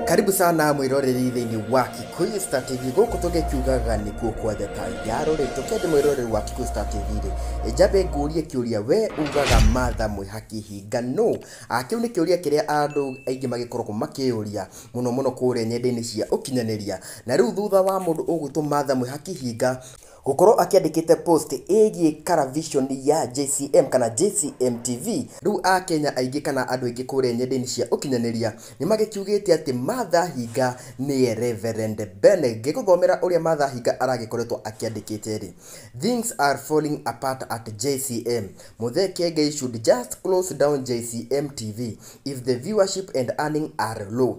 karibu sana mwiroreri thĩinĩ wa kikuyu star tv gũkũ tũgĩkiugaga nĩkuo kwa theta ya rũrĩrĩ tũkende mwiroreri wa kikuyu star tv rĩ njambe ngũrie kĩũria we ugaga matha mwĩhaki hinga no Ah, kĩu nĩ kĩũria kĩrĩa andũ aingĩ magĩkoragwo makĩyũria mũno mũno kũrĩa nyenda-inĩ cia ũkinyanĩria na rĩu thutha wa mũndũ ũgwĩtwo matha mwĩhaki hinga Gũkorwo akĩandĩkĩte post ĩgiĩ karavishoni ya JCM kana JCM TV, rĩu Akenya aingĩ kana andũ aingĩ kũrĩa nyendainĩ cia ũkinyanĩria nĩmagĩkiugĩte atĩ Martha Hinga nĩye Reverend Ben. Ngĩgũthomera ũrĩa Martha Hinga aragĩkoretwo akĩandĩkĩte rĩ, Things are falling apart at JCM. Muthee Kiengei should just close down JCM TV if the viewership and earning are low.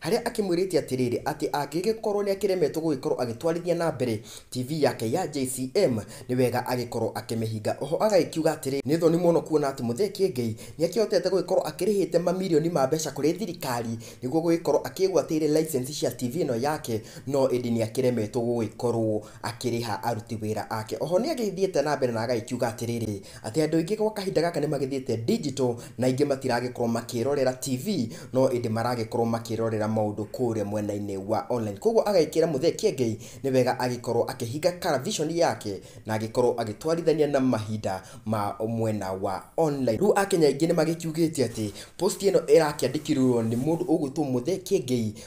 harĩa akĩmwĩrĩte atĩrĩrĩ atĩ angĩgĩkorwo nĩakĩremetwo gũgĩkorwo agĩtwarithia na mbere TV yake ya JCM nĩ wega agĩkorwo akĩmĩhinga. Oho agagĩkiuga atĩrĩrĩ nĩ thoni mũno kuona atĩ Mũthee Kĩengei nĩakĩhotete gũgĩkorwo akĩrĩhĩte mamirioni ma mbeca kũrĩ thirikari nĩguo gũgĩkorwo akĩgwatĩire license cia TV ĩno yake no ĩndĩ nĩakĩremetwo gũgĩkorwo akĩrĩha aruti wĩra ake. Oho nĩagĩthiĩte na mbere na agagĩkiuga atĩrĩrĩ. atĩ andũ aingĩ gwa kahinda gaka nĩ magĩthiĩte digital na aingĩ matiragĩkorwo makĩrorera TV, no ĩndĩ maragĩkorwo makĩrorera maũndũ kũrĩa mwena-inĩ wa online. Koguo agagĩkĩra Mũthee Kiengei nĩ wega agĩkorwo akĩhinga karaviconi yake na agĩkorwo agĩtwarithania na mahinda ma mwena wa online. Rĩu Akenya aingĩ nĩ magĩkiugĩte atĩ post ĩno ĩrakĩandĩkirwo nĩ mũndũ ũgwĩtwo Mũthee Kiengei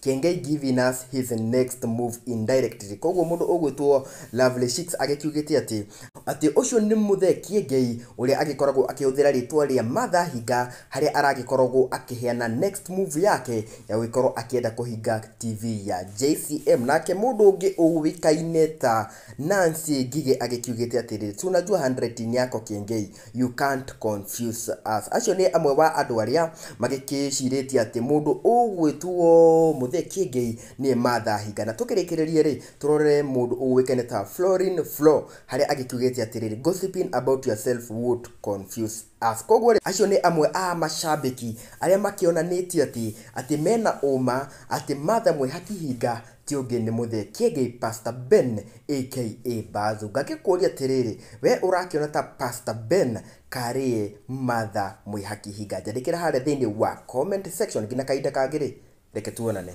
Kengei giving us his next move indirectly. Kwoguo mũndũ ũgwĩtwo Lovely Shicks agĩkiugĩte atĩ, atĩ ũcio nĩ Mũthee Kiengei ũrĩa agĩkoragwo akĩhũthĩra rĩtwa rĩa Martha Hinga harĩa aragĩkoragwo akĩheana next move yake ya gũgĩkorwo akĩenda kũhinga TV ya JCM. Nake mũndũ ũngĩ ũĩkaine ta Nancy Ngigĩ agĩkiugĩte atĩrĩrĩ, tunajua handwriting yako Kiengei You can't confuse us. Acio nĩ amwe wa andũ arĩa magĩkĩcirĩtie atĩ mũndũ ũgwĩtuo mũthee kĩengei nĩye Martha Hinga. Na tũkĩrĩkĩrĩrie rĩ, tũrore mũndũ ũĩkaine ta Florin Flo harĩa agĩkiugĩte atĩrĩrĩ, Gossiping about yourself won't confuse us. Koguo rĩ, acio nĩ amwe a macambĩki arĩa makĩonanĩtie atĩ atĩ mena ũũma atĩ Martha Mwĩhaki Hinga Ti ũngĩ nĩ Mũthee Kĩengei Pastor Ben aka Bazu. Ngagĩkũũria atĩrĩrĩ, wee ũrakĩona ta Pastor Ben karĩ Martha Mwĩhaki Hinga? Njandĩkĩra harĩa thĩinĩ wa comment section. Nginya kahinda kangĩ rĩ, reke tuonane.